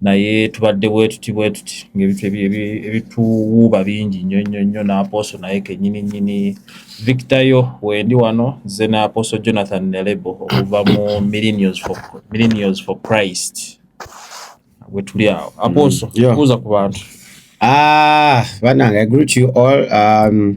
naye tubadde bwetuti bwetuti ngaebintu ebituwuuba bingi nnyo nnyo nnyo n'apooso naye kenyini nyini victayo wendi wano nze n'apooso jonathan nelebo okuva mu millenios for christ wetuli awo apooso mm, kuuza ku bantu ah, banange i greet you all um,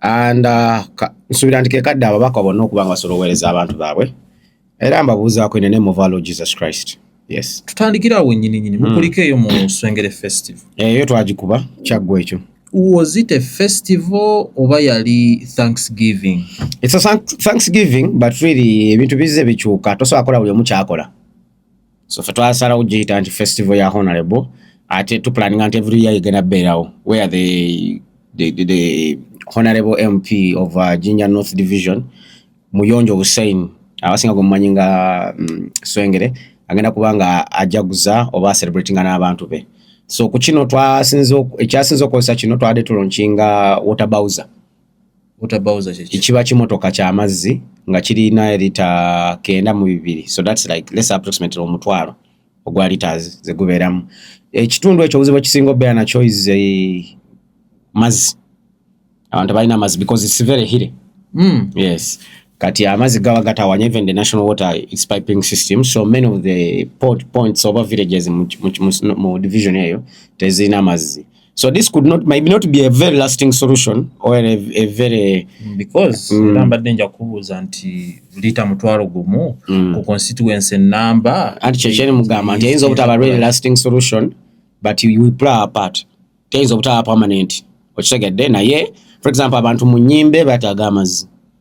and uh, nsubira nti kekadde ababaka bonna okuba nga basobola oweereza abantu baabwe era mbabuuzaako in the name of our Lord Jesus Christ yes tutandikira awo nyini nyini hmm. mukulika eyo mu Swengere festival eyo eh, twagikuba kyaggwa ekyo was it a festival oba yali thanksgiving it's a thanksgiving but really ebintu bizze bikyuka tosobola kola buli omu kyakola so fe twasalawo kugiyita nti festival ya honorable ate tupulaninga nti every year igenda beerawo where the, the, the, the honorable mp of uh, ginger north division muyonjo hussein abasinga gwemumanyi nga mm, swengere agenda kuba nga ajaguza oba acelebratinga n'abantu be so ku kino ekyasinza okukozesa kino twabadde tulonkinga water bowser kiba kimotoka kyamazzi nga kirina lita kenda mu bibiri so thats like less approximately omutwalo ogwa litas zegubeeramu ekitundu ekyo obuzibu ekisinga obeera nakyo is eh, mazzi abantu balina amazzi because its very hire mm. yes kati amazzi gaba gatawanya even the national water its piping system so many of the port points oba villages mu division eyo tezirina mazzi So this could not maybe not be a very lasting solution or a, a very mm, because mm. era mbadde nja kubuuza nti lita mutwalo gumu mm. ku constituency number anti kyo kyeri mugamba nti ayinza obutaba really lasting solution but you will play a part teyinza obutaba permanent okitegedde naye for example abantu mu nyimbe bataaga amazzi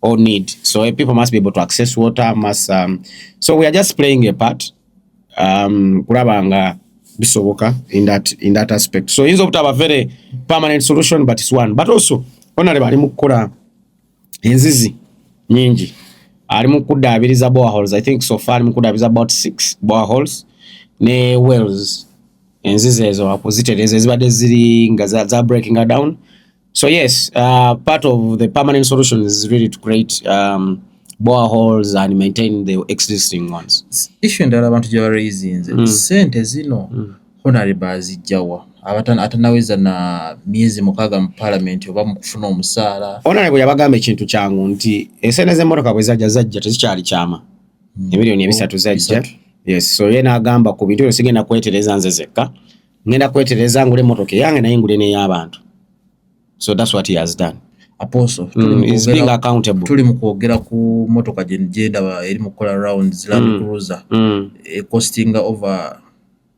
or need. So eh, people must be able to access water, must um, so we are just playing a part um kulabanga bisoboka in that in that aspect. So inzo butaba very permanent solution but it's one. But also onale bali mukora enzizi nyingi. Ali mukuda abiriza boreholes. I think so far mukuda abiriza about 6 boreholes ne wells. Enzizi ezo akuziteleza ezibade ziri nga za, za breaking down. So yes, uh, part of the permanent solution is really to create um, boreholes and maintain the existing ones. Issue endala abantu gye baraisinze mm. sente zino mm. honore bazijjawa atanaweza na miezi mukaga mu parliament oba mukufuna omusaala honore bwe yabagamba ekintu kyangu nti esente z'emmotoka bwe zajja zajja tezikyali kyama mm. emiliyoni ebisatu zajja yes so ye n'agamba ku bintu ebyo sigenda kwetereza nze zekka ngenda kwetereza ngule motoka eyange naye ngule n'ey'abantu so that's what he has done apostle mm, is being accountable tuli mu kwogera ku motoka gye gyendaba eri mu kukola rounds land mm. cruiser mm. e costing over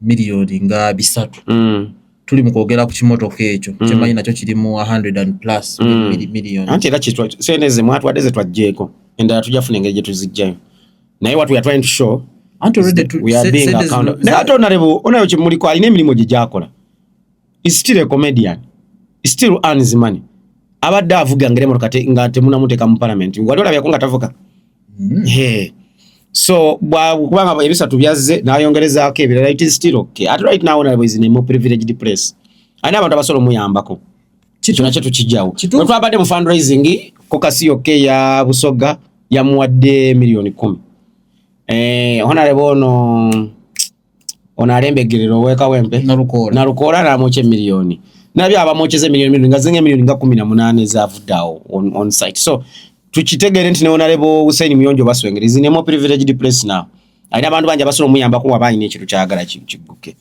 miliyoni nga bisatu mm. tuli mu kwogera ku kimotoka ekyo mm. kyemanyi nakyo kirimu 100 and plus mm. miliyoni anti era sente ze mwatwadde ze twajjeeko endala tujja funa engeri gye tuzijjayo naye what we are trying to show anti already to, we are being accountable naye ate onarebo onayo kimuliko alina emirimu gye gyakola is still a comedian is still earns money abadde avuga ngere motoka te, nga temunamuteeka mu parliament wali olabyako nga tavuga mm. hey. so kubanga ebisatu byazze nayongerezaako ebirala it is still okay at right now onarebo is in a more privileged place alina abantu abasobola omuyambako kino nakyo tukijjawo we twabadde mu fundraising ku kasi yokka eya busoga yamuwadde miliyoni kumi eh, honarebo ono ono alembegerera owekawempe nalukoola namwokya emiliyoni nabyo abamwokyeza emiliyoni miliyoni nga zinga emiliyoni nga kumi na munaana ezavudde awo on site so tukitegere nti newonalebo husaini muyonjo baswengere is in a more privileged place now alina abantu bangi abasobola omuyambako waba alina ekintu kyagala kigguke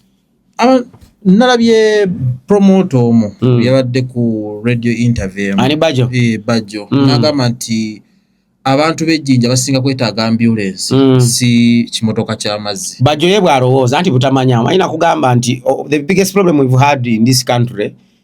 Ah, nalabye promote omu mm. yabadde ku radio interview ani bajo e, bajo mm. nagamba nti abantu bejjinja basinga kwetaaga ambulance mm. si kimotoka kyamazzi bajo ye bwalowooza nti butamanya ayina kugamba nti oh, the biggest problem we've had in this country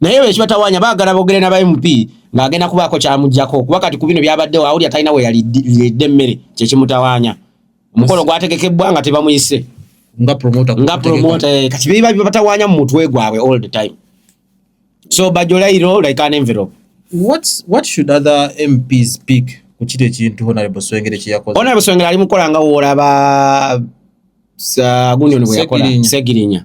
naye ebyo ekibatawanya baagala boogere n'aba mp ng'agenda kubaako kyamuggyako kuba kati ku bino byabaddewo awulira talina we yalidde emmere kye kimutawanya omukolo gwategekebbwa nga tebamuyise nga promota nga promota eh, kati biba bibatawanya mu mutwe gwabwe all the time so bajolairo like an envelope what what should other mps pick ku kiri ekintu honorable swengere kye yakoze honorable swengere ali mukola nga woolaba sa gunyoni bwe yakola segirinya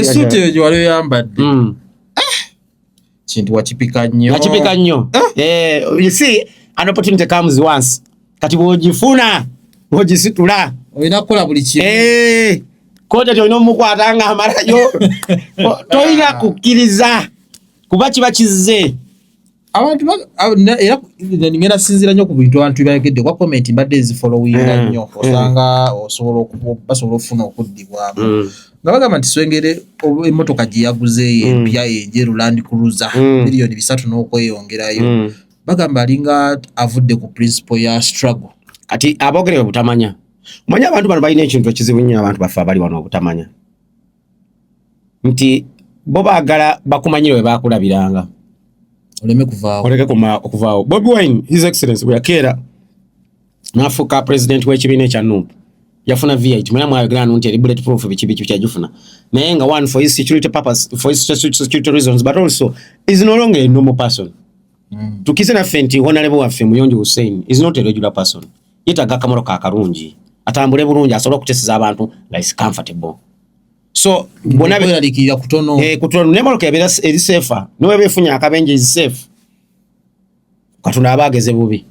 esuuti eyo gyewali oyambadde hmm. eh! kintu wakipika nnyo wakipika nnyo eh! Eh, you see an opportunity comes once kati bwogifuna bwogisitula olina kukola buli kimu koti ati olina omukwata nga amalayo tolina kukkiriza kuba kiba kizze abantu era ngenda sinzira nnyo ku bintu abantu byebayogedde kuba comment mbadde nzifolowinga mm. nnyo mm. osanga osobola basobola okufuna okuddibwamu mm. nga bagamba nti swengere emotoka gye yaguzeeyo empya enjeru land cruiser miliyoni bisatu n'okweyongerayo bagamba alinga avudde ku principle ya struggle kati abogerebe butamanya manya abantu bano balina ekintu ekizibu nnyo abantu baffe abali wano obutamanya nti bo baagala bakumanyire we baakulabiranga oleme kuvaawo oleke okuvaawo bobi wine his excellence bwe yakeera n'afuuka pulezidenti w'ekibiina ekya nup yafuna vit mwera mwayogera nu nti eri bullet proof biki biki kyagifuna naye nga one for his security purpose for his security reasons but also is no longer a normal person mm. tukize naffe nti honalebo waffe muyonjo hussein is not a regular person mm. yetaga akamoro ka kalungi atambule bulungi asobola okutesiza abantu nga is comfortable so bona beralikira kutono eh kutono ne moroka ebera eri safe no webe funya akabenje is safe katuna abageze bubi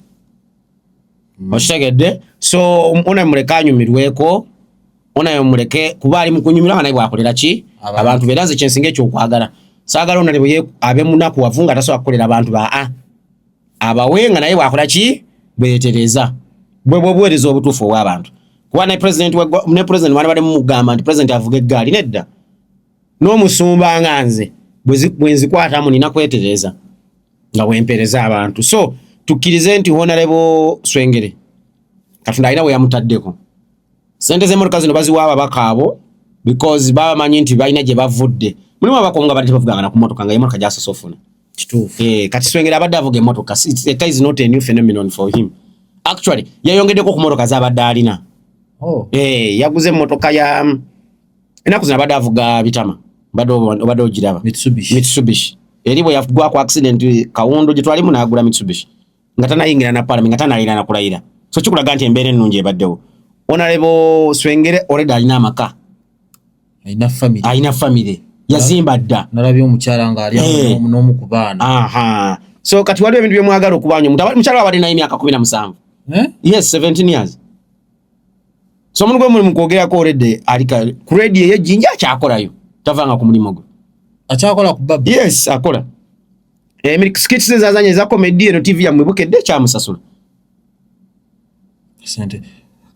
mm. oshitegedde so ona muleka anyumirweko ona yomuleke kuba ali mukunyumira nga naye bwakolera ki abantu bera nze kyensinga ekyokwagala sagala ona ne abe munaku wavunga tasobola kukolera abantu ba a ah. abawe nga naye bwakola ki bwetereza bwe bwobuwereza obutuufu obw'abantu kuba ne president ne president wali bali mugamba nti president avuga eggaali nedda n'omusumba nga nze bwe nzikwatamu nina kwetereza nga bwempereza abantu so tukkirize nti honorable swengere katonda alina we yamutaddeko sente z'emmotoka zino baziwa ababaka abo because baba manyi nti balina gye bavudde mulimu abakonga bali tebavuganga na ku mmotoka nga emotoka gyasose ofuna kituufu eh kati swengera abadde avuga emotoka it is not a new phenomenon for him actually yayongedeko ku motoka za badde alina oh eh yaguze motoka ya mm, enaku zina badde avuga bitama badde obadde ogiraba mitsubishi mitsubishi eri bwe yagwa ku accident kawundo gye twalimu n'agula mitsubishi nga tanayingira na parliament nga tanalina na kulayira so kikulaga nti embeera ennungi ebaddewo onalebo swengere already alina amaka alina family alina family yazimba dda nalabye omukyala nga ali eh. n'omu ku baana aha so kati waliwo ebintu byemwagala okubanya mukyala wabadde naye emyaka kumi na musanvu eh? yes 17 years so omuntu gwe mulimu kwogerako already ali ku radio eyejjinja akyakolayo tavanga ku mulimu gwe akyakola ku babu yes akola Emiri eh, skits ze zazanya za comedy eno TV ya mwibuke de cha musasula. Asante.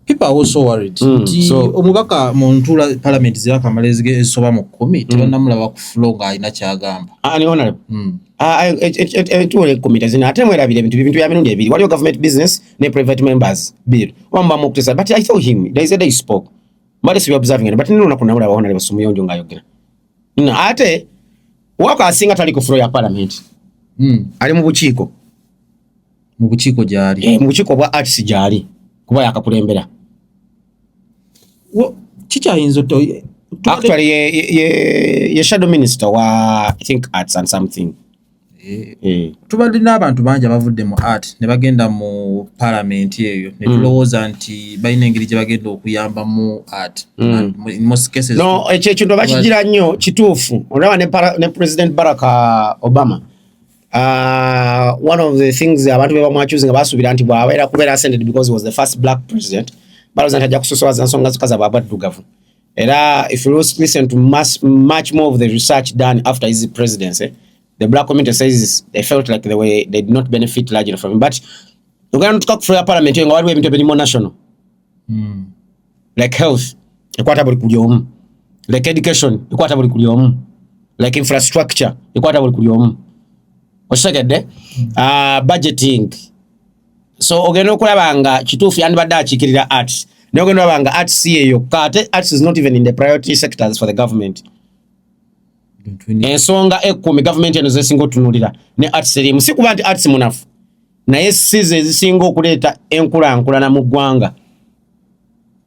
People are also worried. Mm, Ti so, omubaka mu ntula parliament zira kamalezi ge esoba mu 10 mm. tebana mulaba ku flow nga alina kyagamba. Ah ni honorable. Mm. Ah eh, eh, eh, eh tuwe committee zina ate mwera bile bintu bintu ya mirundi ebiri. Waliyo government business ne private members bill. Wamba mu kutesa but I saw him. There is a day spoke. Mali si observing but nino nakuna mulaba honorable sumuyonjo ngayogera. no, ate wako asinga tali ku floor ya parliament mm. ali mu bukiiko mu bukiiko gyali e, mu bukiiko bwa arts gyali kuba yakakulembera kikyayinza actually ye, ye, ye, ye shadow minister wa i think arts and something Eh, eh. tubadde n'abantu bangi abavudde mu art ne bagenda mu palamenti eyo ne hmm. tulowooza nti balina engeri gye bagenda okuyambamu art hmm. ekyo ekintu bakigira nnyo kituufu olaba ne president barack uh, obama Uh, one of the things abantu be bamwacuzi nga basuubira nti bwabeera kubeera ascended because he was the first black president balooza nti ajja kusosowaza nsonga zikaza bwabwaddugavu Era if you listen to much, much more of the research done after his presidency, the black community says they felt like they, were, they did not benefit largely from him. But ogenda notuka kufuya parliament nga waliwo ebintu ebirimu national mm. like health ekwata buli kuli omu like education ekwata buli kuli omu like infrastructure ekwata buli kuli omu okitegedde hmm. ah, budgeting so ogenda okulaba nga kituufu yandibadde akiikirira arts naye ogenda olaba nga arts si yeyokka ate arts is not even in the priority sectors for the government ensonga ekkumi gavumenti eno zesinga otunulira ne arts erimu si kuba nti arts munafu naye size ezisinga okuleeta enkulankulana mu ggwanga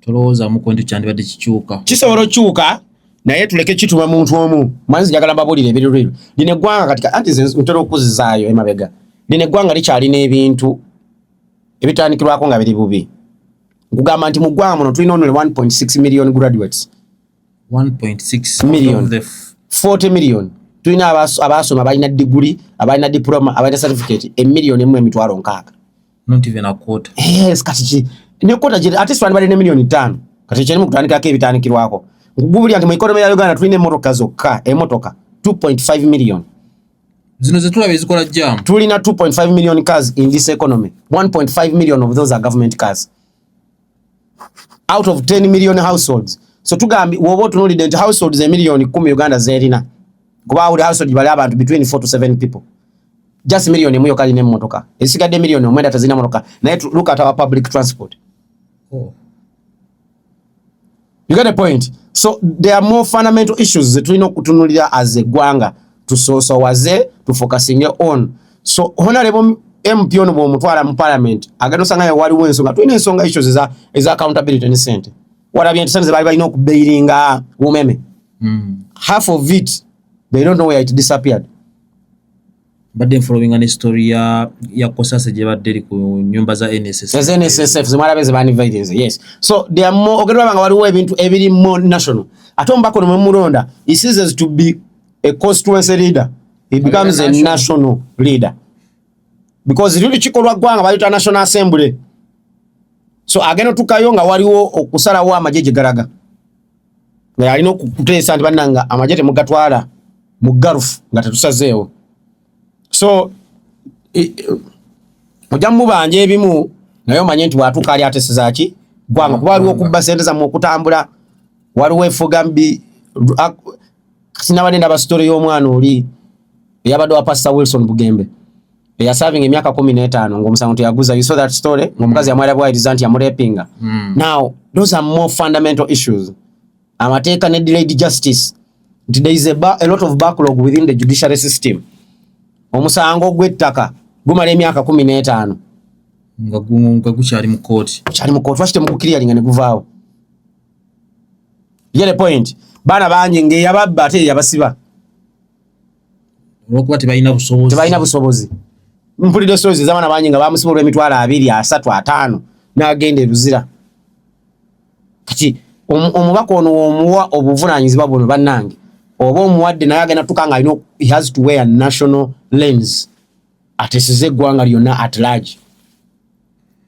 tolowoozamuko nti kyandibadde kikyuka kisobola okyuka naye tuleke kituma muntu omu manzi njagala mbabuulire ebirirwirwe lino eggwanga kati anti ntera okuzizaayo emabega lino eggwanga likyalina ebintu ebitandikirwako nga biri bubi nkugamba nti mu ggwanga muno tulina only 1.6 million graduates 1.6 million 40 million tulina abaasoma abalina diguli abalina diploma abalina certificate emiliyoni emu emitwalo nkaaga not even a quarter yes kati ki ne quarter je at least wani bali ne million 5 kati kyeni mukutandika ke bitandikirwako ngubuli anti mu economy ya Uganda tulina emotoka zokka emotoka 2.5 million zino ze tulaba ezikola jam tulina 2.5 million cars in this economy 1.5 million of those are government cars out of 10 million households so tugambi woba otunulidde nti households emillioni 1 uganda zerina kuba buli household bali abantu between 4 to 7 people just million emu yokka alina emmotoka esigadde million omwenda tazirina motoka naye look at our public transport oh. You get the point? So there are more fundamental issues zetulina okutunulira as a gwanga tusosowaze tufocusinge on so honorable MP ono bwomutwala mu parliament agenda osanga yo waliwo ensonga tulina ensonga issues eza, eza accountability ne sente walabye nti sente zebaali balina okubeiringa umeme mm. half of it they don't know where it disappeared mbadde nfolowinga ne story ya ya kosase gye badde eri ku nyumba za NSSF yes NSSF zimara beze bani violence yes so they are more ogerwa banga waliwo ebintu ebiri more national ate ombako no mulonda he ceases to be a constituency leader he becomes a national, a national leader because lili kikolwa gwanga bayita national assembly so ageno tukayo nga waliwo okusalawo amajeje garaga naye alina okuteesa nti bannanga amagye temugatwala mu garufu nga tetusazeewo so ojja mubanja ebimu naye omanye nti watuuka ali atesezaki gwanga kuba waliwo okubba sente zamu okutambula waliwo efuga mbi kati nabadde ndaba story y'omwana oli eyabadde wa pastor wilson bugembe eyasavinga emyaka kumi n'etaano ngaomusango teyaguza you saw that story ngaomukazi mm. yamwera bwayiriza nti yamurepinga mm. now those are more fundamental issues amateeka ne delayed justice nti there is a, a lot of backlog within the judiciary system omusango gw'ettaka gumala emyaka kumi n'etaano nga gukyali mu kooti lwaki temukukiriyalinga ne guvaawo yele point bana bangi nge yababba ate yabasiba olwokuba tebalina busobozi tebalina busobozi mpulidde stories ezabana bangi nga bamusiba olwemitwalo abiri asatu ataano nagenda ebuzira kati omubaka ono womuwa obuvunanyizibwa buno banange oba omuwadde naye agenda tuka nga alina has to wear national lens atesize eggwanga lyonna at large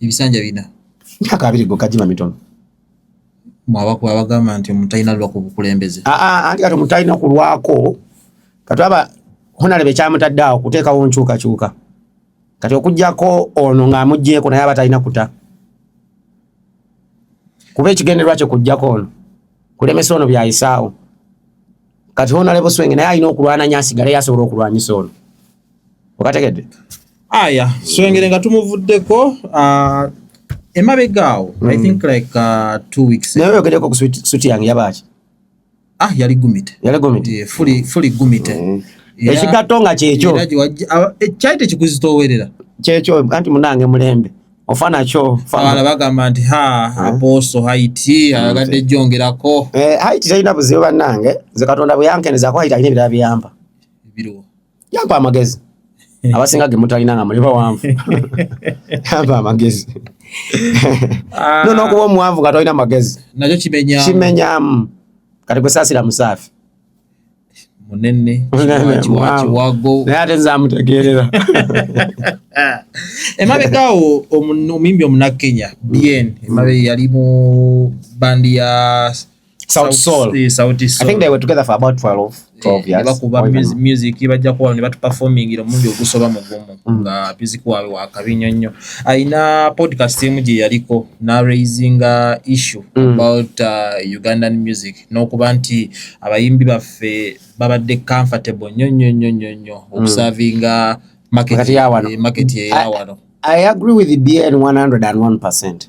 ebisanja bina myaka abiri gokka gima mitono mwabaku abagamba nti omuntu alina lwa ku bukulembeze ah, ah, anti kati omuntu alina kulwako kati aba honalebe kyamutadde awo kuteekawo nkyukakyuka kati okugyako ono ng'amuggyeko naye aba talina kuta kuba ekigendererwa kye kujjako ono kulemesa ono byayisaawo kati honalebe swenge naye alina okulwananya asigale yasobola okulwanyisa ono okategedde aya swengere nga tumuvuddeko ah, emabega awo i hmm. think like ah, two weeks naye oyogereko ku suti yange yabaaki ah yali gumite yali gumite fuli fuli gumite hmm. ekigatto nga kyekyo ekyali tekikuzitoowerera kyekyo anti munange mulembe ofana kyo fala bagamba nti ha eh? aposo haiti ayagadde eh, jongerako eh, haiti talina buzibu bannange nze katonda bweyankeneza ko haiti alina ebirala biyamba yampa amagezi abasinga ge mutalina nga muli bawanvu yampa amagezi ah. no nokuba omuwanvu nga tolina magezi nakyo kimenyamu kimenyamu kati kwesasira musaafi munene kiwago naye ate nzamutegeerera emabegaawo omuyimbi omunakenya bien emabe yali mu bandi ya South Soul. Eh, South Soul. I think they were together for about 12, 12 eh, years. Bakuba music, music bajja kuwa ne batu performing ilo mungi ogusoba mu gumu mm. nga music wawe wa kabinyo nyo. Aina podcast emu je yaliko na raising a uh, issue mm. about uh, Ugandan music. No kuba nti abayimbi baffe babadde comfortable nyo nyo nyo nyo nyo. Mm. Observinga uh, market ya wano. Eh, market ya wano. I, I agree with the BN 101%.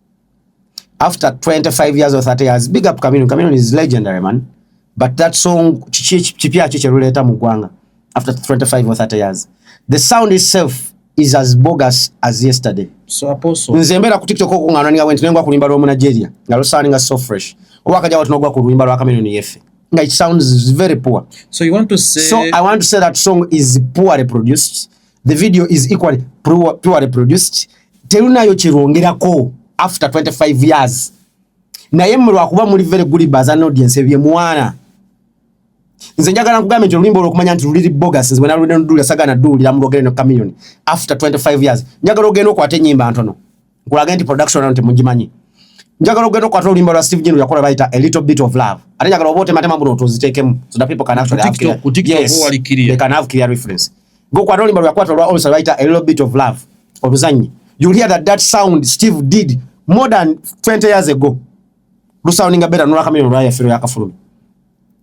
after 25 years or 30 years big up Chameleon Chameleon is legendary man but that song kipya kye kyeruleta mu gwanga after 25 or 30 years the sound itself is as bogus as yesterday so apostle nze mbera ku tiktok ko ngana ninga went nengwa kulimba romu Nigeria ngalo sound nga so fresh oba kaja watu nogwa kulimba ro Chameleon yefe nga it sounds very poor so you want to say so i want to say that song is poorly produced the video is equally purely produced terunayo kyerwongerako after 25 years naye mwe lwakuba muli very good bas an audience ebye mwana nze njagala nkugambye nti oluyimba olwokumanya nti luliri bogas nze bwenalulinaduulira sagana duulira mulwogere no communion after 25 years njagala ogenda okwata enyimba ntono nkulage nti production eno temugimanyi njagala ogenda okukwata oluyimba lwa steve jinu yakola bayita a little bit of love ate njagala oba otematema buno otuziteekemu so that people can actually have clear, yes, they can have clear reference gokwata oluyimba lwakwata olwa also bayita a little bit of love oluzannyi you hear that that sound steve did more than 20 years ago lusoundinga better nolwakamenya olwayafiro yakafulumi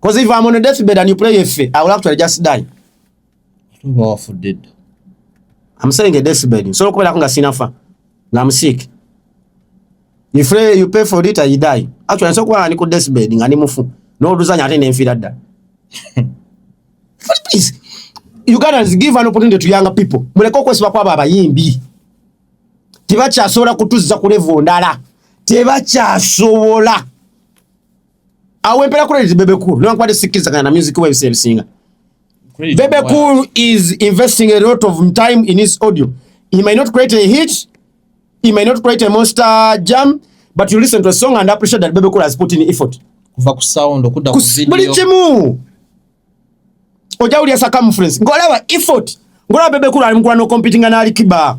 Because if I'm on a deathbed and you play a fair, I will actually just die. Tuba for dead. I'm saying a deathbed. So kubera kunga sinafa. Na I'm sick. You pray, you pay for it and you die. Actually, so kwa niko deathbed ngani mufu. No duzanya ate nemfira da. Please. You guys give an opportunity to younger people. Muleko kwesiba kwa baba yimbi. Tibakyasobola kutuzza ku level ndala. Tibakyasobola. awo empera credit bebe cool no nkwade sikiza kana music web sel singa bebe cool is investing a lot of time in his audio he might not create a hit he might not create a monster jam but you listen to a song and appreciate that bebe cool has put in effort kuva ku sound okuda ku video buli kimu oja uli asaka mfrens ngolaba effort ngolaba bebe cool alimkula no competing na alikiba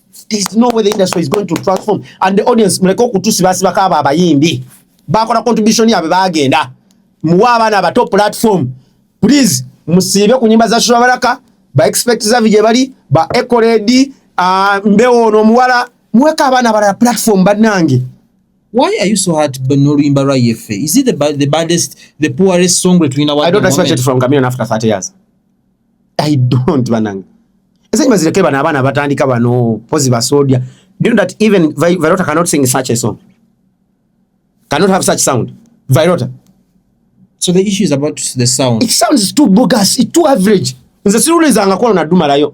there's no way the industry is going to transform and the audience muleke okutusibasiba kaaba abayimbi bakola contribution yabwe bagenda muwe abaana abato platform please musiibe ku nyimba za shurabaraka ba expect zavi gye bali ba ecoledi uh, mbewo ono omuwala muweka abaana abalala platform bannange Why are you so hard but no Rimba Rayefe? Is it the, the baddest, the poorest song between our I don't expect it from Camino after 30 years. i don't banange esenyi bazireke bano abaana batandika bano pozi basoldier do you know that even virota cannot sing such a song cannot have such sound virota so the issue is about the sound it sounds too bogus it too average nze siruulizanga kwano nadumalayo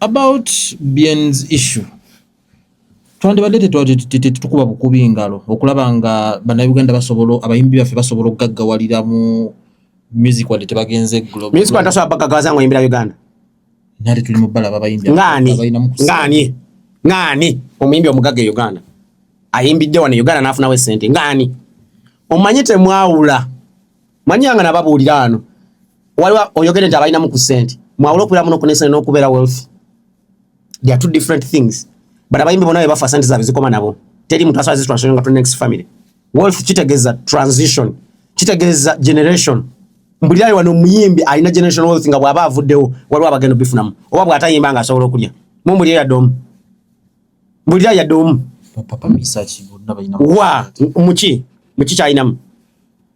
About Bien's issue twandibadde tetukuba bukubi ngalo okulaba nga bannayuganda basobola abayimbi baffe basobola okugaggawalira mu music wadde tebagenze globagawaza nga oyimbira uganda nate tuli mu bbala babayimbi ngani ngani omuyimbi omugagga e uganda ayimbidde wano e uganda n'afunawo esente ngani omanyi temwawula manyanga nababuulira ano waliwo oyogere nti abalinamu ku sente mwawula okubeera muno ku nesente n'okubeera wealthy they are two different things but abayimbi bona bebafa sente zaabwe zikoma nabo teri muntu asobola zitransition nga to next family wealth kitegeeza transition kitegeeza generation mbulirayi wano omuyimbi alina generation wealth nga bw'aba avuddewo waliwo abagenda obifunamu oba bw'atayimba nga asobola okulya mumbulire yadde omu mbulira yadde omu wa muki muki kyalinamu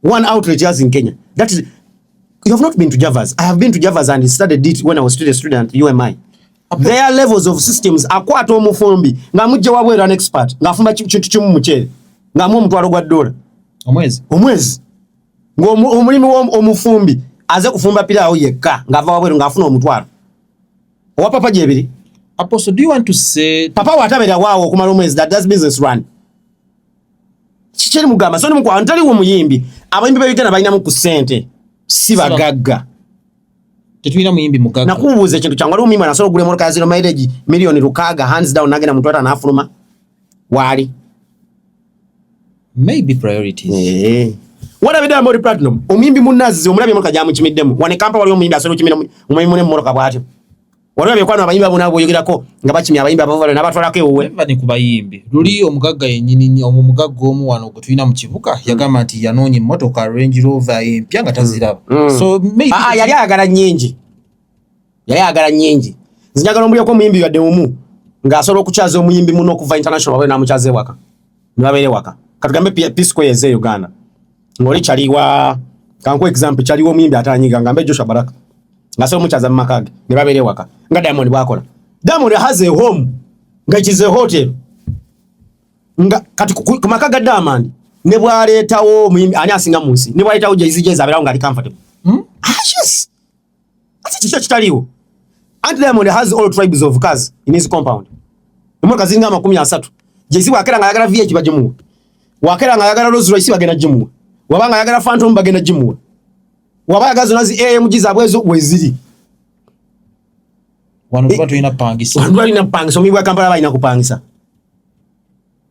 One outrage has in Kenya. That is, you have not been to Javas. I have been to Javas and studied it when I was still a student at UMI. Okay. Their levels of systems akwata omufumbi nga mujja wabwe an expert nga afumba kintu kimu mukyere nga mu omutwalo gwa dola omwezi omwezi ngo omulimu wo omufumbi aze kufumba pira awo yekka nga ava wabwe nga afuna omutwalo owa papa jebiri apostle do you want to say papa watabera wawo kumala omwezi that does business run kikyeri mugamba so nimukwa ntali wo muyimbi abayimbi bayigana balina mu kusente si bagagga tetulina muyimbi mugagga nakubuuza ekintu kyangu waliwo muyimbi anasobola okugula emotoka ya zero mileage miliyoni lukaaga hands down nagenda mu twata nafuluma waali maybe priorities eh. walabidde amori platinum omuyimbi munazzi omulabye emotoka gyamukimiddemu wane kampa waliwo omuyimbi asobola okimira omuyimbi mune mu motoka bwatyo Waliwo abekwano abayimbi abo nabo boyogerako nga bakimya abayimbi abo bali nabatwalako ewuwe. Bane ku bayimbi. Luli omugagga yennyini nnyo omu mugagga omu wano gwe tulina mu kibuga hmm. yagamba nti yanoonya emmotoka Range Rover empya nga taziraba. Hmm. Hmm. So maybe ah, ah yali ayagala nnyingi. Yali ayagala nnyingi. Nzinyagala omuliyoko omuyimbi yadde omu ng'asobola okukyaza omuyimbi muno okuva international wabe n'amukyaza ewaka. Ne babeera ewaka. Katugambe Peace Square eze Uganda. ngoli chali wa kanko example chali wo muyimbi atanyiga ngambe Joshua Baraka ngase omuchaza mu makage ne babere waka nga Diamond bwakola Diamond has a home nga it is a hotel nga kati ku makaga Diamond ne bwaletawo muyimbi ani asinga munsi ne bwaletawo Jay-Z Jay-Z aberawo ngali comfortable hmm? ah yes Ati kiki ekitaliwo? Anti Diamond has all tribes of cars in his compound. Emmotoka ziringa amakumi asatu. Jay-Z bw'akeera ng'ayagala VH bagimuwa. Bw'akeera ng'ayagala Rolls Royce bagenda gimuwa. Waba ng'ayagala Phantom bagenda gimuwa. Waba ayagala zonna zi AMG zaabwe ezo weziri. Wano tuba tulina pangisa. Wano tuba tulina pangisa. Omuyi bwa Kampala balina kupangisa.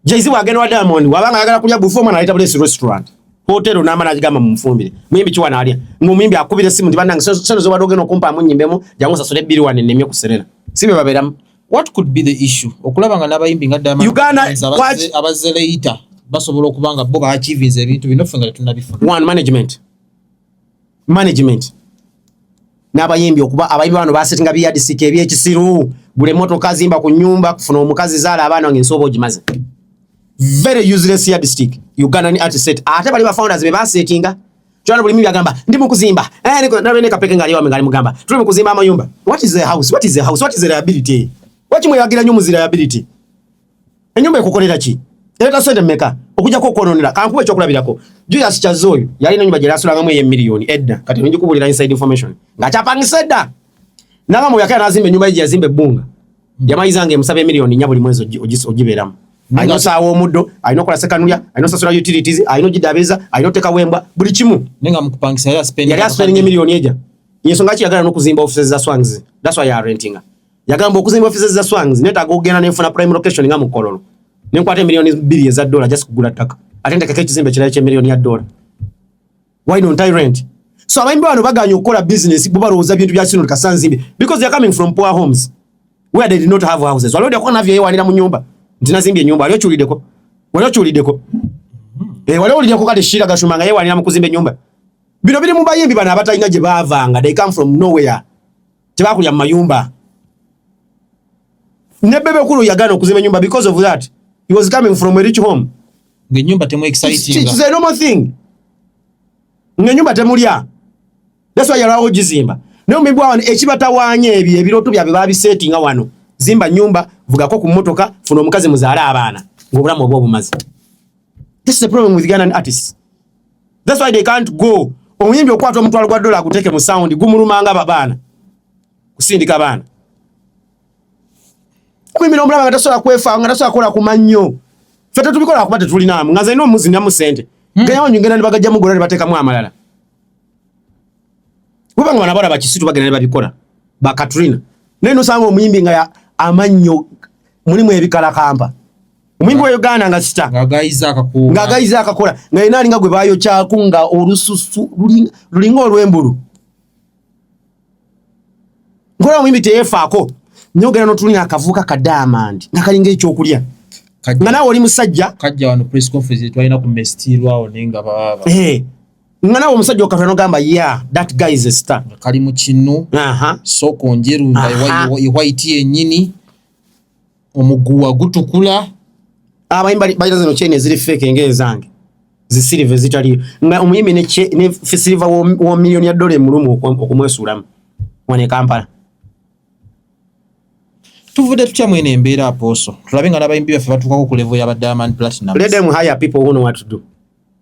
Jay-Z wagenda wa Diamond wabanga ayagala kulya buffet omwana aleta bulesi restaurant hotel na mana ajigamba mumfumbire muyimbi kiwa na alya ngo muyimbi akubire simu ndi banange sero zo badoge no kumpa munyimbe mu jangu sasule biri wane nemye kuserera sibe babera what could be the issue okulaba nga nabayimbi nga Diamond Uganda abaze later basobola okubanga bo ba achieve ebintu bino fenga tunabifuna one management management n'abayimbi okuba abayimbi bano basetinga biyadisika ebyekisiru gula emotoka zimba ku nyumba kufuna omukazi zaala abaana wange nsooba ogimaze very useless yadistic ugandan art set ate bali bafounders be basetinga kyona buli mimi agamba ndi mukuzimba eh niko nabe ne kapeke ngali wame ngali mugamba tuli mukuzimba amayumba what is the house what is the house what is the liability wakimwe yagira nyo muzira liability enyumba ekukolera ki ereta sente meka okujako okwononera kankuba ekyokulabirako julius kyaze oyo yalina enyumba gyerasulangamu eyo emiliyoni edda kati oyinza okubulira inside information ngaakyapangisa edda naba mwoyo akera nazimba enyumba ye gyeyazimba ebbunga hmm. yamaliza nga emusaba emiliyoni nya buli mwezi ogibeeramu alina osaawa omuddo alina okola sekanulya alina osasula utilities alina ogidabiza alina otekawo embwa buli kimu yali aspendinga emiliyoni eja yensonga ki yagala nokuzimba offices za swangs that's why yarentinga Yagamba okuzimba offices za Swangz netaaga okugenda ne nfuna prime location nga mu Kololo. Ne nkwata milioni bbiri eza dola just kugula ttaka. Ate ndekako ekizimbe kirala kye milioni ya dola. Why don't I rent? So abayimbi bano baganye okukola business bo balowooza bintu bya Sino Kasanzimbi because they are coming from poor homes where they did not have houses. Waliwo deko navyo yewanira mu nyumba. Ntina zimbye nyumba aliyo chulideko. Waliwo chulideko. Eh waliwo lideko kale shira gashuma nga yewanira mu kuzimba nyumba. Bino biri mu bayimbi bana abatalina gye bavanga. They come from nowhere. tebakulya mu mayumba ne bebe kulu yagana okuzimba enyumba because of that he was coming from a rich home nga enyumba temu exciting it's a normal thing nga enyumba temulya that's why yalawo gizimba naye omuyimbi wa wano ekibatawaanya ebyo ebirooto byabwe babiseetinga wano zimba nyumba vugako ku mmotoka funa omukazi muzaale abaana ng'obulamu oba obumazi this is the problem with Ghanaian artists that's why they can't go omuyimbi okwata omutwalo gwa dola aguteke mu sound gumulumanga babaana kusindika baana omuyimbi nomulaba nga tasobola kwefa nga tasobola kukola kumannyo fe tetubikola kuba tetulinaamu nga zalina omuzinamu sente hmm. gayawanyu ngenda nibagajjamu gola nebatekamu amalala weba nga banabala bakisitu bagenda nebabikola ba katrina naye nosanga omuyimbi nga amannyo mulimu ebikalakampa omuyimbi wa uganda nga sita ng'agayiza akakola nga yena alinga gwe baayokyaku nga olususu lulinga olw'embulu nkola omuyimbi teyeefaako nyo ogenda notulina akavuuka ka diamond nga kalinga ekyokulya nga nawe oli musajja eh, nga nawe omusajja okatula nogamba ya that guy is a star kali mu kinu soko njeru nga iwayiti yenyini omuguwa gutukula abayimbi balina zino chain eziri fake nga ezange zisiriva ezitaliyo nga omuyimbi ne siriva wa miliyoni ya dola emulumu okumwesuulamu wano e kampala tuvudde tutya mwene embeera apooso tulabe nga n'abayimbi baffe batuukako ku levo ya ba diamond platinum let them hire people who know what to do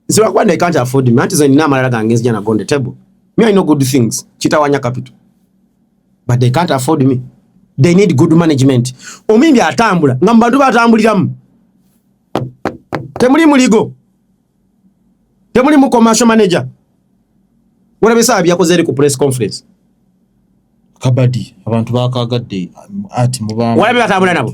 nze lwakuba they can't afford me anti zenina amalala gange nzija nago on the table me i know good things kitawanya capital but they can't afford me they need good management omuyimbi atambula nga mu bantu batambuliramu temuli muligo temuli mu commercial manager walabe saa byakoze eri ku press conference kabadi abantu bakagadde ati mubambi walabe batambula nabo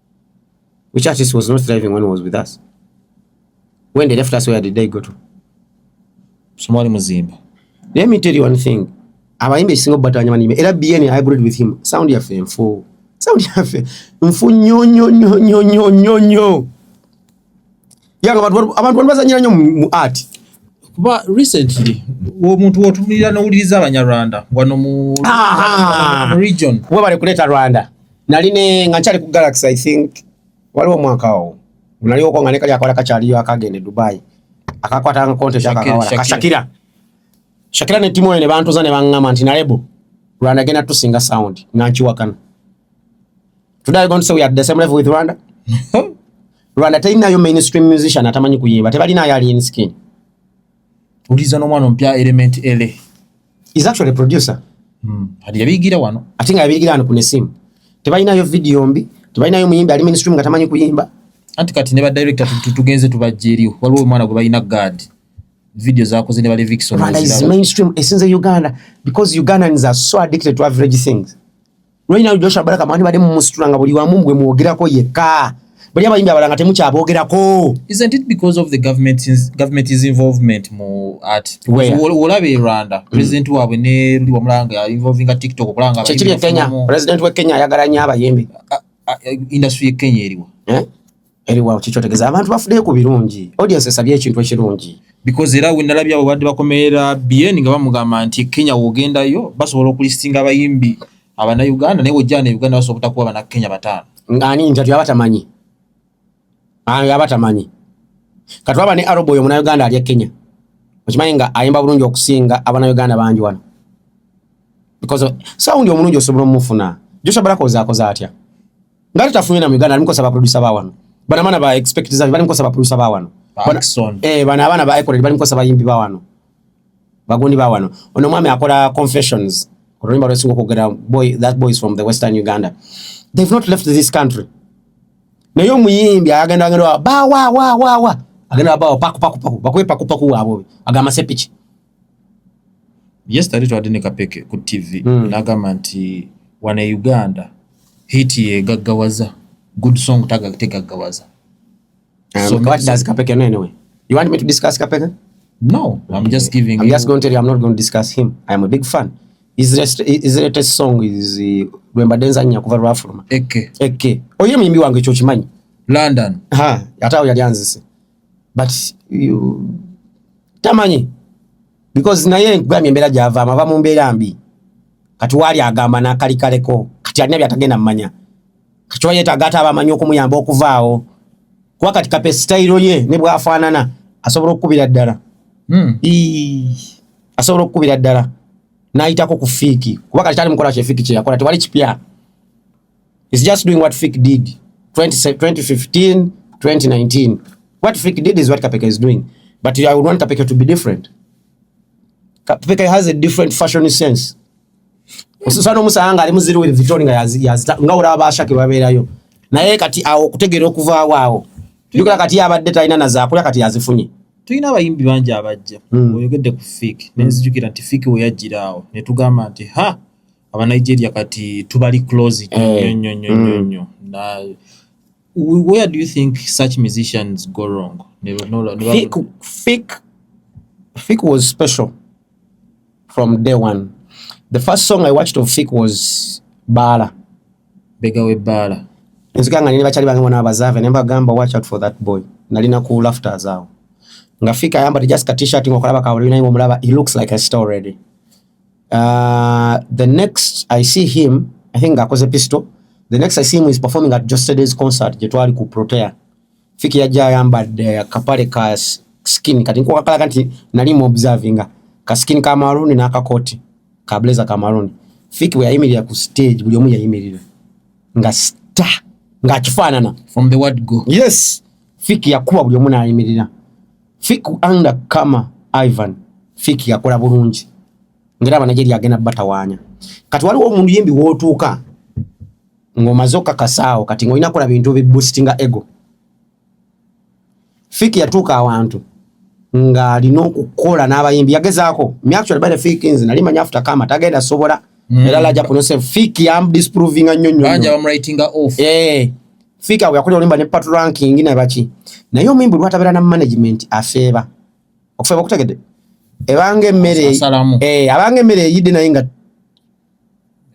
Which artist was not driving when he was with us? When they left us, where did they go to? Somali Muzimba. Let me tell you one thing. Abayimbi ekisinga okubatanya banime era BN I agreed with him. Sound yaffe nfu. Sound yaffe nfu nnyo nnyo nnyo nnyo nnyo nnyo. yanga abantu abantu bazanyira nyo mu art kuba recently omuntu wotumira nowuliriza abanyarwanda wano mu region webale kuleeta rwanda nali ne nga nkyali ku galaxy i think waliwo omwaka owo naliwoko nga nekali akawala kakyaliyo akagenda e dubai akakwata nga konte kyakakawala kashakira shakira ne timu ene bantuza ne bangama nti nalebo rwanda genda tusinga sound nankiwakana Today I'm going to say we are the same level with Rwanda. Rwanda tayina yo mainstream musician atamanyi kuyimba. Tebali na yali in skin. Uliza no mwana mpya element LA. Is actually a producer. Mm. Hadi yabigira wano. Atinga yabigira wano kune simu. Tebalina yo video mbi. Tebalina yo muyimbi ali mainstream nga tamanyi kuyimba. Anti kati ne ba director tutugenze tubajje eriyo. Waliwo mwana gwe balina guard. Video zako zine bali Vixen. Rwanda is mainstream esinze Uganda because Ugandans are so addicted to average things. Right now Joshua Baraka mwani bade mumusitula nga buli wamu mwe mwogerako yekka. Bali abayimbi abalanga temukyaboogerako. Isn't it because of the government is, government is involvement mu art? Where? Wolabe Rwanda. Mm. President mm. wabwe ne Rudi Wamulanga involving a TikTok kulanga abayimbi. Chechiri Kenya. President wa Kenya ayagala nya abayimbi. Industry ya Kenya eriwa. Eh? Eri wao kicho tegeza abantu bafude ku birungi. Audience esabye ekintu ekirungi. Because era we nalabye abo badde bakomera BN nga bamugamba nti Kenya wogenda yo basobola okulistinga abayimbi abana Uganda naye wojjana Uganda basobola kutakuwa bana Kenya batano. Ngani njatu yabatamanyi. Ah yabatamanyi. Katwaba ne Arobo yo muna Uganda ali Kenya. Okimanyi nga ayimba bulungi okusinga abana Uganda bangi wano. Because sound omulungi osobola omufuna. Joshua Baraka ozakoza atya? Ngati tafunye na Uganda alimko sababu producer ba wano. Bana mana ba expect zabi bali mkosa ba producer ba wano. Bana, eh bana abana ba Icon bali mkosa ba yimbi ba wano. Bagundi ba wano. Ono mwami akola confessions. Remember the single kugera boy that boy is from the western Uganda. They've not left this country. Na yo muyimbi agenda agenda ba wa wa wa wa. Agenda ba wa paku paku paku. Bakwe paku paku wa bobi. Agama sepichi. yesterday twadde ne kapeke ku tv mm. nagamba nti wana e uganda hit yegaggawaza good song tegaggawaza um, so, what does kapeke know anyway you want me to discuss kapeke no i'm okay. just giving i'm you... just going to tell you i'm not going to discuss him i am a big fan his latest song is uh, lwemba denza nya kuva lwafuluma eke eke oyo muyimbi wange ekyo kimanyi london ha ate awo yali anzise but you, tamanyi because naye nkugambye embeera gyavaama ava mu mbeera mbi kati waali agamba n'akali kaleko kati alina byatagenda mumanya kati oba yeetaaga ate abamanyi okumuyamba okuvaawo kuba kati kape sitayiro ye ne bwafaanana asobola okukubira ddala hmm. asobola okukubira ddala n'ayitako ku fiiki kuba kati kyali mukola kyefiiki kyeyakola tewali kipya He's just doing what Fik did 20, 2015, 2019. What Fik did is what Kapeka is doing. But I would want Kapeka to be different. Kapeka has a different fashion sense. Sasa no musanga ali muziri with Vitoni nga yazita nga ora abasha ke baberayo. Naye kati awo kutegera okuva wawo. Yukula kati yabadde talina na zakula kati yazifunye. Tulina abayimbi bangi abajja. Hmm. Oyogedde ku Fik. Nenzijukira nti Fik we yajjira awo. Ne tugamba nti ha aba Nigeria kati tubali close eh. nyo nyo nyo mm. nyo na where do you think such musicians go wrong never no no fik fik fik was special from day one the first song i watched of fik was bala bega we bala nzika nga nina bakyali bange bona abazave ne mbagamba watch out for that boy nalina ku laughter zaawo nga fika ayambadde just ka t-shirt nga okulaba kawulinaye omulaba he looks like a star already Uh, the next I see him, I think akoze pistol. The next I see him is performing at Just Today's concert gye twali ku Protea. Fiki yajja ayambadde akapale ka skin kati nkuwa kala kanti nali mu observinga ka skin ka maroon na ka coat ka blazer ka maroon. Fiki we yayimirira ku stage buli omu yayimirira nga star nga kifanana from the word go. Yes. Fiki yakuba buli omu nayimirira. Fik anda kama Ivan Fik yakola bulungi ngera abanajeria agenda batawanya kati waliwo omuntu yembi wotuuka ng'omaze okakasaawo kati ng'olina kola bintu biboostinga ego Fik yatuuka awantu ng'alina okukola n'abayimbi yagezaako myactual bane Fik nze nali manyi afuta kama tagenda sobola mm. era laja kuno se Fik yam disprovinga nnyo nnyo banja bamwritinga off eh Fika we yakulira olimba ne part ranking na baki. Naye omuyimbi lwatabera na management afeeba. Okufeeba okutegede. Ebange mmere eh abange mmere yidde naye nga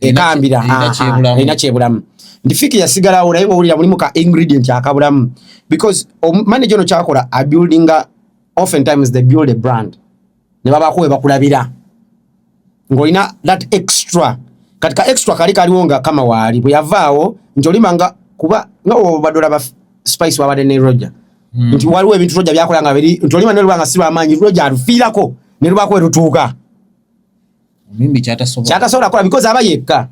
ekambira ina kyebulamu. Ndi fiki yasigala awo naye wawulira mulimu ka ingredient akabulamu because manager ono kyakola a building often times they build a brand. ne babaako we bakulabira ng'olina that extra kati ka extra kali kaliwo nga kama waali bwe yavaawo nti olima nga kuba nga obadde olaba spice wabadde ne roger hmm. nti waliwo ebintu roger byakola nga biri nti olima ne luba nga si lwamaanyi roger alufiirako ne lubaako we lutuuka omuyimbi kyatasobola kyatasobola kola because aba yekka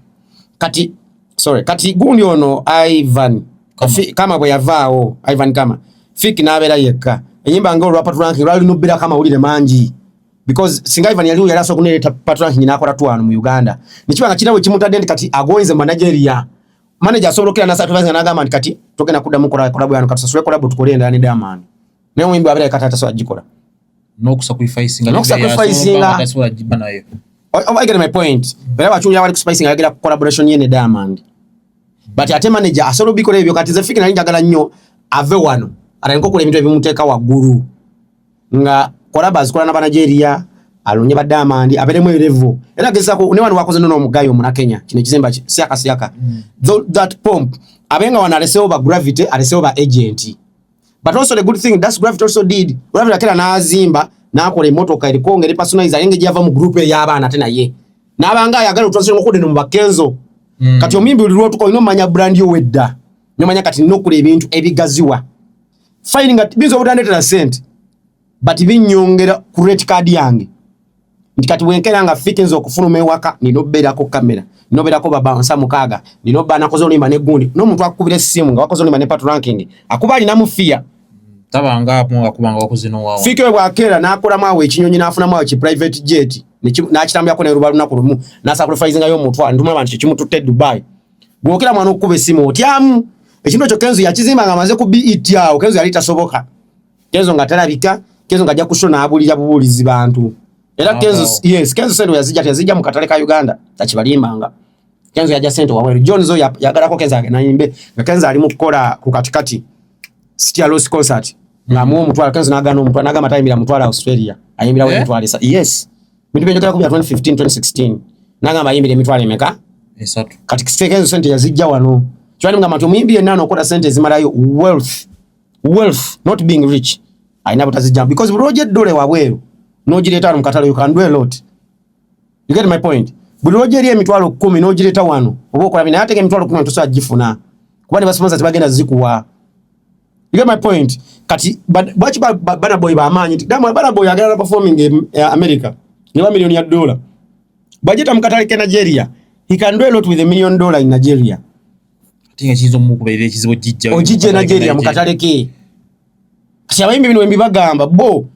kati sorry kati gundi ono Ivan Kafi, kama bwe yavaawo Ivan kama fik n'abeera yekka enyimba nga olwa patranking lwali lubbira kama wulire mangi because singa Ivan yaliwo yali asobola okuneeta patranking n'akola twano mu Uganda nekiba nga kirawe kimutadde nti kati agoinze mu Nigeria manager asobola okukira nasa tuvaze n'agamba nti kati togenda kuddamu kola kola bwano kati sasule kola bwe tukole endala ne Diamond naye omuyimbi abeera yekka taata so agikola no kusacrificing no kusacrificing that's what ajiba nayo oh, oh, I get my point bera bachunja wali kuspicing agera collaboration yene diamond but ate manager asolo bikole ebyo kati zefiki nali njagala nnyo ave wano ataniko kula ebintu ebimuteeka waggulu nga kolaba azikola na banigeria alonye ba diamond aberemu erevo era gezako ne wano wakoze nono omugayo muna kenya kino ekizimba siaka siaka mm. that pomp abenga wana alesewo ba gravity alesewo ba agent but also the good thing that's gravity also did gravity akera nazimba nakola emotoka eriko ngeri personalize ayenge java mu group ya bana tena ye nabanga ayagala utwase ngo kude no bakenzo mm. kati omimbi ulirwo tuko ino manya brand yo wedda nyo manya kati no kule ebintu ebigaziwa finding at bizo budande tena sent but binyongera create card yange nti kati bwenkera nga fiti nze okufuluma ewaka nina obeerako kamera nina obeerako babansa mukaaga nina oba nakoze olimba ne gundi n'omuntu akukubira essimu nga wakoze olimba ne pat ranking akuba alinamu fiya fika we bwakeera n'akolamu awo ekinyonyi n'afunamu awo ki private jet n'akitambuyako neruba lunaku lumu n'asakulifaizingayo omutwa ntuma abantu kyekimututte dubai gwokera mwana okukuba essimu otyamu ekintu ekyo kenzo yakizimba nga amaze ku bet awo kenzo yali tasoboka Kenzo nga talabika, Kenzo nga ajja kushona abulira bubulizi bantu. Era Kenzo oh. yes, Kenzo sendo yazija yazija mu katale ka Uganda takibalimbanga. Kenzo yaja sento wabweru. John zo yagala ko Kenzo agena imbe. Nga Kenzo ali mu kukola ku katikati. City Lost Concert. Nga mu mutwala Kenzo nagana omutwala nagama tayimira mutwala Australia. Ayimbira eh? mutwala sa. Yes. Bintu byo kala ku 2015 2016. Nagama ayimbira mitwala emeka. Esatu. Katikati Kenzo sente yazija wano. Chwani mga matu muyimbi enano okola sente zimalayo wealth. wealth not being rich alina butazijjamu because lwoja eddole wabweru nogireeta wano mukatale you can do a lot you get my point buli lwoja eri emitwalo kumi nogireeta wano oba okola binaye atega emitwalo kumi tosobola gifuna kuba ne basomoza tebagenda zikuwa you get my point kati bwaki bana boy bamaanyi nti damu bana boy agala performing e, e america ne ba million ya dollar bajeta mukatale ke nigeria he can do a lot with a million dollar in nigeria tinga kizo mu kubeerera ekizibu jijja ojije na jeria mukatale ke kati abayimbi bino embi bagamba bo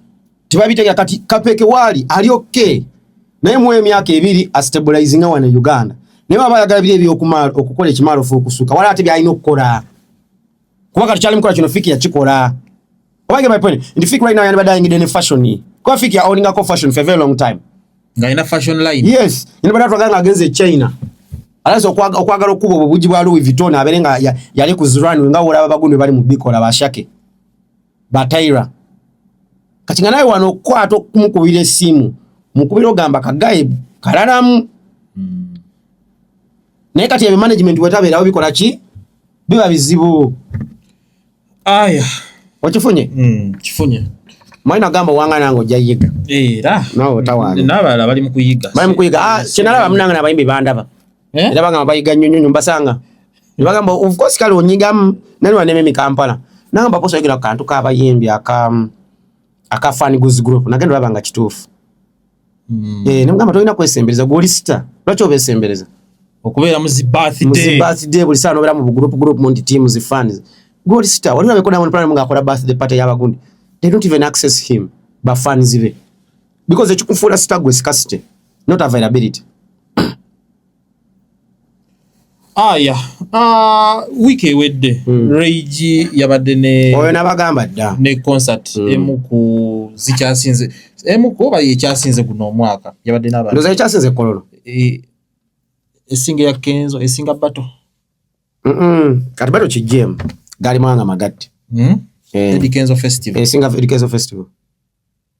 tibabitega kati kapeke wali ali okay naye mu emyaka ebiri a stabilizing awana Uganda naye baba yagala bile byo kumalo okukola ekimalo fu okusuka wala ate byalina okukola kuba kati kyali mukola kino fiki yakikola Why get my point? In the fake right now, you're never dying in any fashion. Kwa fake, you're owning a fashion for a very long time. Nga ina fashion line. Yes. You never talk against the China. Alaso kwa kwa garo kubo bubuji bwa Louis Vuitton abere nga ya, yale kuzurani nga wala babagunde bali mubiko la bashake. Bataira. Katinga nayo wano kwa to kumukubire simu. Mukubire ogamba kagaye kalalamu. Hmm. Naye kati ya management wetabe lawo bikola ki? Biba bizibu. aya okifunye mm, kifunye mwalina gamba wanga nange ojja yiga era nawe otawaana n'abalala bali mu kuyiga bali mu kuyiga ah, kyenalaba munange nabayimbi bandaba eh? era bagamba bayiga nnyo nnyo mbasanga ne bagamba of course kale onyigamu nani wanema emikampala nagamba posa oyogera ku kantu kabayimbi aka aka fan goods group nagenda olaba nga kituufu Hmm. Eh, namugamba tolina kwesembereza gwoli sita lwaki obesembereza okubeera mu zibirthday buli saa nobeera mu bugroup group munti team zi fans gwoli sita wali olabeko diamond platinum ngaakola birthday party yabagundi they don't even access him ba fans be because ekikufuula sita gwe sikasite not availability Aya uh, wiiki ewedde mm. Rage yabadde ne oyo nabagamba dda ne concert mm. emu ku zikyasinze emu ku oba yekyasinze guno omwaka yabadde n'abantu ndoza yekyasinze kololo e, esinga ya Kenzo esinga bato mm -mm. kati bato kijemu gali mwanga magatti mm? eh. Eddie Kenzo festival esinga Eddie Kenzo festival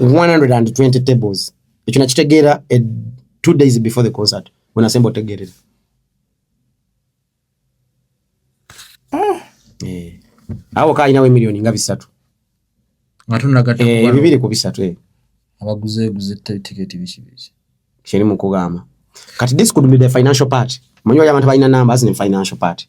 120 tables ekyo nakitegeera e two days before the concert wenasemba otegeerera ah. eh. awo kaalinawo emiliyoni nga bisatu eh, bibiri ku bisatu eh. kyeri mukugamba kati this could be the financial part manyi wali abantu balina number as in financial part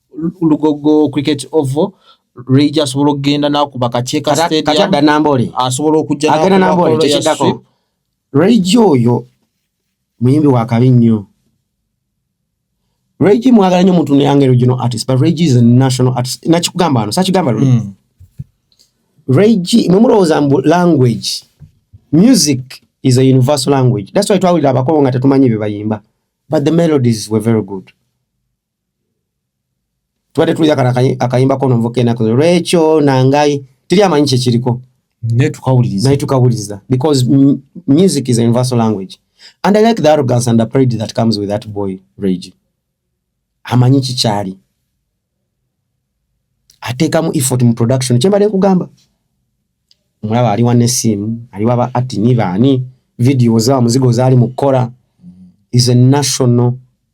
lugogo cricket oval lweija asobola okugenda nakuba kakyeka stadium asobola okujja agenda nambole kyekidako lweija oyo muyimbi wakabi nnyo Reggie mwagala nyo muntu neyange regional artist but Reggie is a national artist nakikugamba wano sakigamba luli mm. Reggie mwe mulowooza mbu language music is a universal language that's why twawulira abakolo nga tetumanyi bye bayimba but the melodies were very good tubadde tuwulira kano akayimba kono nvuka enaku lwekyo nangayi teri amanyi kyekiriko naye tukawuliriza because music is a universal language and i like the arrogance and the pride that comes with that boy rage amanyi kikyali ateekamu effort mu production kyembadde nkugamba omulaba aliwa nesiimu aliwa ba atini baani video za muzigo zaali mu kukola is a national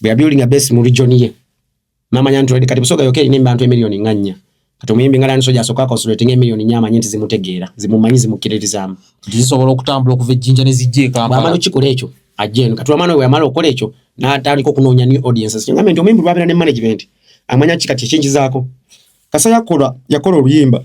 bwe yabuilding a base mu region ye namanya nti already kati busoga yoka erina embantu emiliyoni nga nnya kati omuyimbi nga lansoja asooka akonsuletinga emiliyoni nnya amanye nti zimutegeera zimumanyi zimukkiririzaamu nti zisobola okutambula okuva ejjinja ne zijja ekampala okikola ekyo ajja eno kati wamana we yamala okukola ekyo n'atandika okunoonya new audiences kyengambe nti omuyimbi lwabeera ne management amanya ki kati ekingizaako kasa yakola yakola oluyimba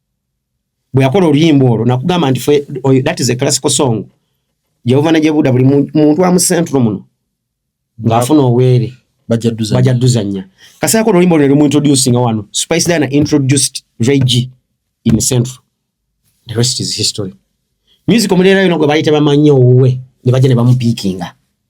bwe yakola oluyimba olwo nakugamba nti fe that is a classical song jehova najebuuda buli muntu amusentulo muno ng'afuna oweere bajja duzanya kasi yakola oluyimba olwo nelimuintroducinga wano spice dana introduced reg in central the rest is history music omuleera yona gwe bayita bamanyi owuwe ne bajja ne bamupiikinga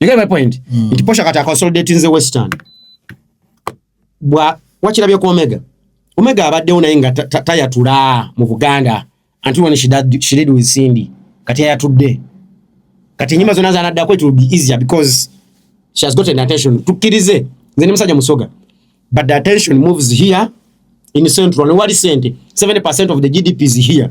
You get my point? Mm. Nti Posha kati akonsolidate nze Western. Bwa wakirabye ku Omega. Omega abaddewo naye nga tayatula mu Buganda until when she did, she did with Cindy. Kati ayatudde. Kati enyimba zonna zanaddako it will be easier because she has gotten attention. Tukkirize nze ne musajja musoga. But the attention moves here in central. Wali sente 70% of the GDP is here.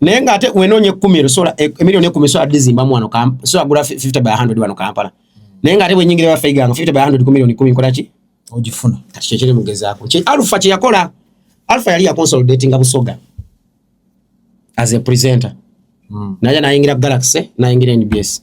naye nga ate wenoonya ekkumi ero sola e, emiliyoni ekkumi sola dizimbamu wano sola gula 50 by 100 wano kampala naye nga ate bwenyingira bafeiganga 50 by 100 ku miliyoni kumi nkola ki ogifuna kati kyekiri mugezaako alfa kyeyakola alfa yali yakonsolidatinga busoga as a presenter mm. naja nayingira galaxy nayingira nbs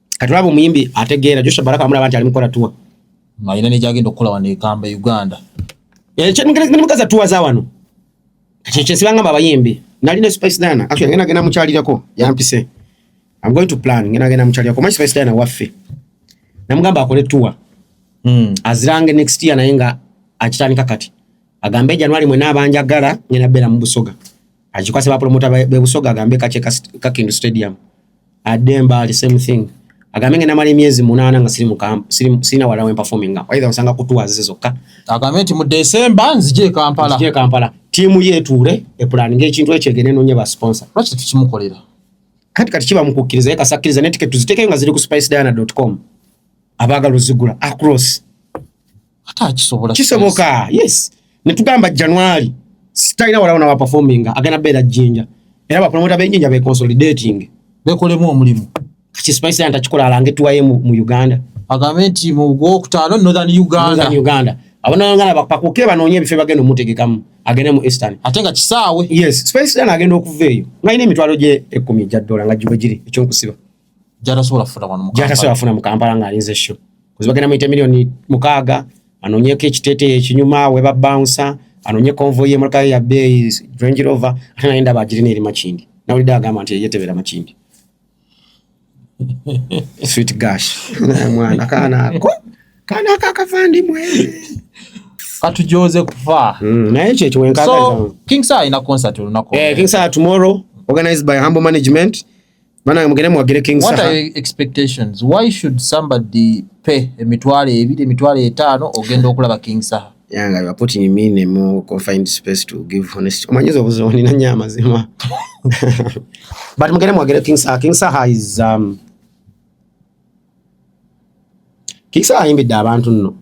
kati olaba omuyimbi ategeera joshua baraka amulaba nti ali mukola tuwa ng'alina negyagenda okukola wano ekamba uganda eh, nemukaza tuwa za wano kati kyesibangamba abayimbi nali ne spice dana actually ngenda genda mukyalirako yampise i'm going to plan ngenda genda mukyalirako my spice dana waffe namugamba akole tuwa mm. azirange next year naye nga akitandika kati agambe January mwena abanja gala ngena bela mu Busoga ajikwase ba promoter be Busoga agambe kache ka Kindu Stadium ademba ali same thing agambe ngena mali miezi munana nga siri mu camp siri sina wala wen performing nga either usanga kutuwa zize zokka agambe nti mu December nzije Kampala nzije Kampala timu yetu ure e plan nge chintu eche gene nonye ba sponsor lwaki tukimukolera kati kati kiba mukukiriza ye kasakiriza ne ticket tuziteke nga ziri ku spice diana.com abaga luzigula across ate akisobola kisoboka yes netugamba january sitalina walawo nawa performing agenda beera jinja era bapromota benjinja be consolidating bekolemu omulimu kati spice yanta kikola alange tuwaye mu, mu uganda agambe nti mu gwokutaano northern uganda northern uganda abanayangala bapakuke banoonye ebifo bagenda omutegekamu agende mu eastern ate nga kisaawe yes spice yanta agenda okuva eyo ngalina emitwalo gye ekkumi egya dola nga giwe giri ekyokusiba gyatasobola kufuna wano gyatasobola kufuna mu kampala ng'alinze sho kuzi bagenda muyita miliyoni mukaaga anoonyeko ekiteeteeyi ekinyuma we babaunsa anoonye konvoyi y'emmotoka ye ya bbeeyi range rover ate naye ndaba agirina eri makindi nawulidde agamba nti yeyetebera makindi sweet gash mwana kaana ako kaana ako akavandimwe katujoze kufa hmm, naye ekyo ekiwenkaa so king sa alina concert olunaku eh, king sa tomorrow organized by humble management Maana mugende mwagire King Saha. What are your expectations? Why should somebody pay emitwalo ebiri emitwalo etaano ogenda okulaba King Saha? Yeah, nga you are putting me in a more confined space to give honest. Omanyiza obuzibu nina nnyo amazima. But mugende mwagire King Saha. King Saha is um, Kisa ayimbidde abantu nno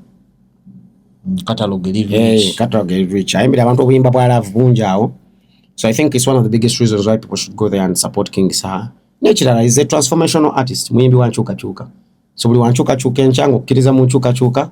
ayimbidde abantu obuyimba bwa laavu bungi awo so i think it's one of the biggest reasons why people should go there and support king saha nekirala is a transformational artist muyimbi wa nkyukakyuka so buli wa nkyukakyuka enkya nga okkiriza mu nkyukakyuka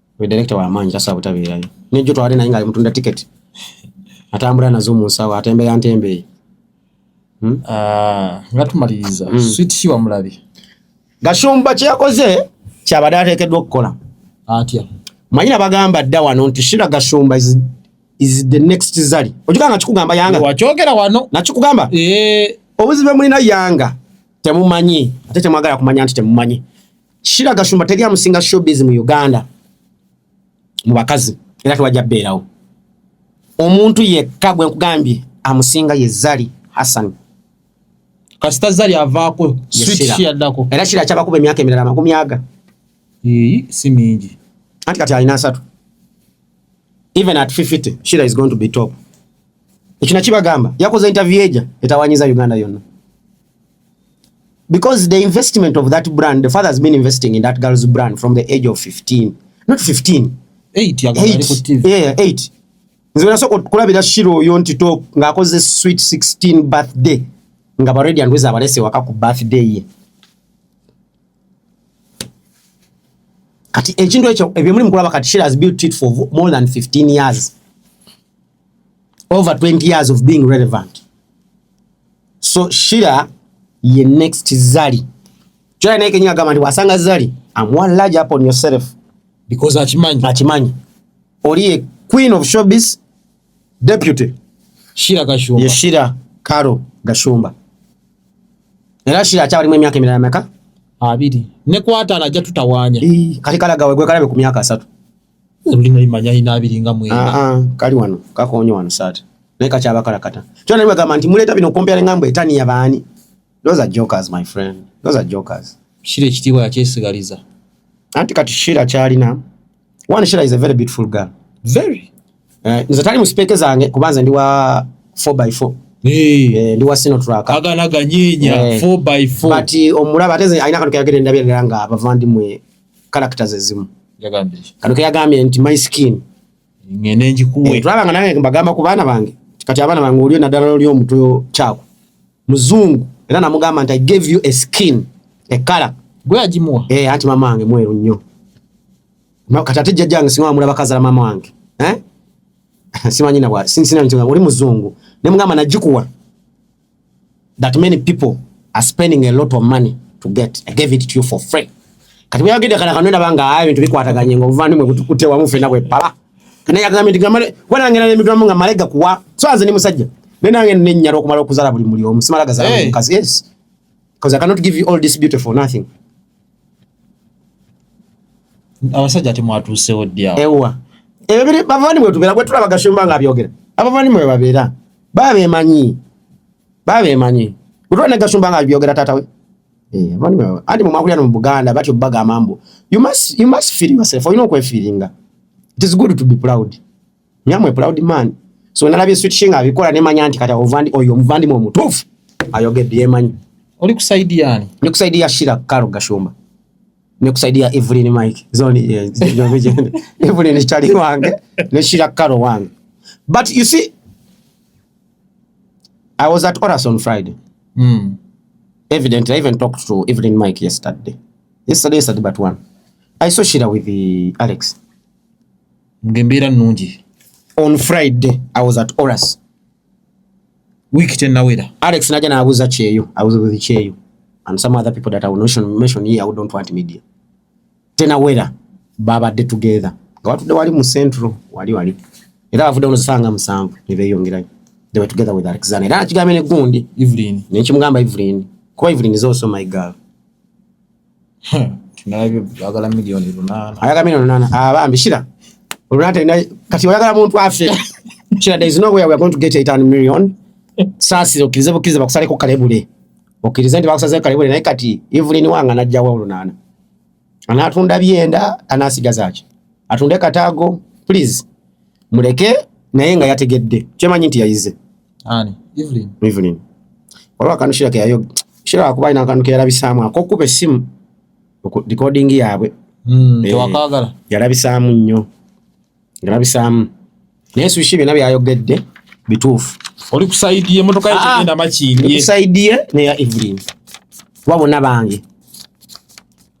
Oyo director wa maanyi tasaa butabeerayo. Ne jjo twali naye ng'ali mutunda ticket. Atambula nazo mu nsawo atembeya ntembeyi. Hmm? Ah, nga tumaliriza hmm. sweet shiwa mulabi. Gashumba kye yakoze kyabadde ateekeddwa okukola. Atya. Manyina bagamba dda wano nti Shira Gashumba is, is the next Zari. Ojika nga kikugamba Yanga. Wakyogera wano. Na kikugamba. Eh. Obuzibe mulina Yanga temumanyi ate temwagala kumanya nti temumanyi. Shira Gashumba teri amusinga showbiz mu Uganda mu bakazi era tewajja beerawo omuntu yekka gwe nkugambye amusinga ye Zari Hassan kasita Zari avaako switch yaddako era Shira kyabakuba emyaka emirala amakumi aga ee si mingi anti kati alina asatu even at 50 Shira is going to be top ekyo nakibagamba yakoze interview eja etawanyiza Uganda yonna because the investment of that brand the father has been investing in that girl's brand from the age of 15 not 15 8 ya gari ku TV yeah 8 nzira so kulabira shiro oyo nti to ngakoze sweet 16 birthday nga ba ready andweza abalese waka ku birthday ye kati ekintu ekyo ebyo muri mukula bakati shiro has built it for more than 15 years over 20 years of being relevant so shira ye next zali kyola naye kenyini agamba nti wasanga zali am one large up on yourself because akimanyi akimanyi oli ye queen of showbiz deputy shira gashumba ye shira karo gashumba era shira akyawalimu emyaka emirala meka abiri nekwatala ajja tutawanya kati kalagawe gwe kalabe ku myaka asatu olulina limanya alina abiri nga mwenda ah, ah, kali wano kakonyo wano saati naye kakyaba kalakata kyona naye bagamba nti muleeta bino okompera nga mbu etani yabaani those are jokers my friend those are jokers shira ekitiibwa yakyesigaliza anti kati shira kyalina one shira is a very beautiful girl very eh, nze tali mu sipeeke zange kuba nze ndi wa 4 by 4 Eh, ndi wasino traka agana ganyenya 4 eh, by 4 but omulaba ateze aina kantu kayagere ndabye nga bavandi mwe kalakita zezimu kano keyagambye nti my skin eh, tulaba nga nange mbagamba ku baana bange kati abaana bange olio naddala loli omutwe kyako muzungu era namugamba nti i gave you a skin ekala gweyagimuwa e, eh, anti mama wange mweru nnyo kati ate jjajja wange singa wamulaba kazala mama wange eh? simanyi nabwa sinsinanti oli muzungu nemugamba nagikuwa that many people are spending a lot of money to get i gave it to you for free kati bweyagenda kana kanwena banga ayo bintu bikwataganye nga obuvandimwe butukute wamu fena bwepala naye agambye nti gamale wena ngena n'emigambo nga malega kuwa so anze ni musajja naye nange nenyala okumala okuzala buli muli omu simala gazala hey. mukazi yes because i cannot give you all this beautiful nothing abasajja temwatuusewo ddi awo ewa ebyo biri bavani mwe tubeera gwe tulaba gashumba nga abyogera abavani mwe babeera baba bemanyi baba bemanyi gwe tulaba ne gashumba nga abyogera taata we eh, abavani mwe anti mwe mwakulira no mu buganda batyo bagamba mbu you must, you must feel yourself olina okwefiiringa it is good to be proud Nyamwe proud man. So nalabye sweet shinga abikola ne manya nti kata ovandi oyo muvandi mu mutufu. Ayogedde yemanyi. Oli kusaidia ani? Ni kusaidia Shira Karo Gashumba. Ni kusaidia Evelyn Mike. Zoni yeah, Evelyn ni chali wange. Ni Shira Karo wange. But you see I was at Oras on Friday. Mm. Evidently I even talked to Evelyn Mike yesterday. Yesterday yesterday but one. I saw Shira with the Alex. ngembeera nungi on friday i was at oras week tenawera alex naja nabuza kyeyo abuza buzi kyeyo and some other people that i will not mention here who don't want media tenawera babadde together nga watudde wali mu central wali wali era bavudde onozisanga musanvu nebeyongerayo they were together with alexander era nakigambye negundi evelyn nekimugamba evelyn kuba evelyn is also my girl ayagala milioni lunana abambi ah, shira olunana talina kati oyagala muntu afe shira there is no way we are going to get 800 million saasira okkirize bukkirize bakusaleko kalebule okkirize nti bakusaleko kalebule naye kati evelyn wanga najjawa olunaana anaatunda byenda anaasigaza ki atunde kataago please muleke naye nga yategedde kyemanyi nti yayize Ani? Evelyn. Evelyn. Waliwo akantu Shira ke yayoga. Shira wakuba alina akantu ke yalabisaamu ak'okukuba essimu recording yaabwe. Mm, eh, tewakaagala. Yalabisaamu nnyo. Yalabisaamu. Naye Sushi byonna byayogedde bituufu. Oli ku sayidi ye motoka yake ah, ah. enda makindi. Ku sayidi ye ne ya Evelyn. Wabona bange.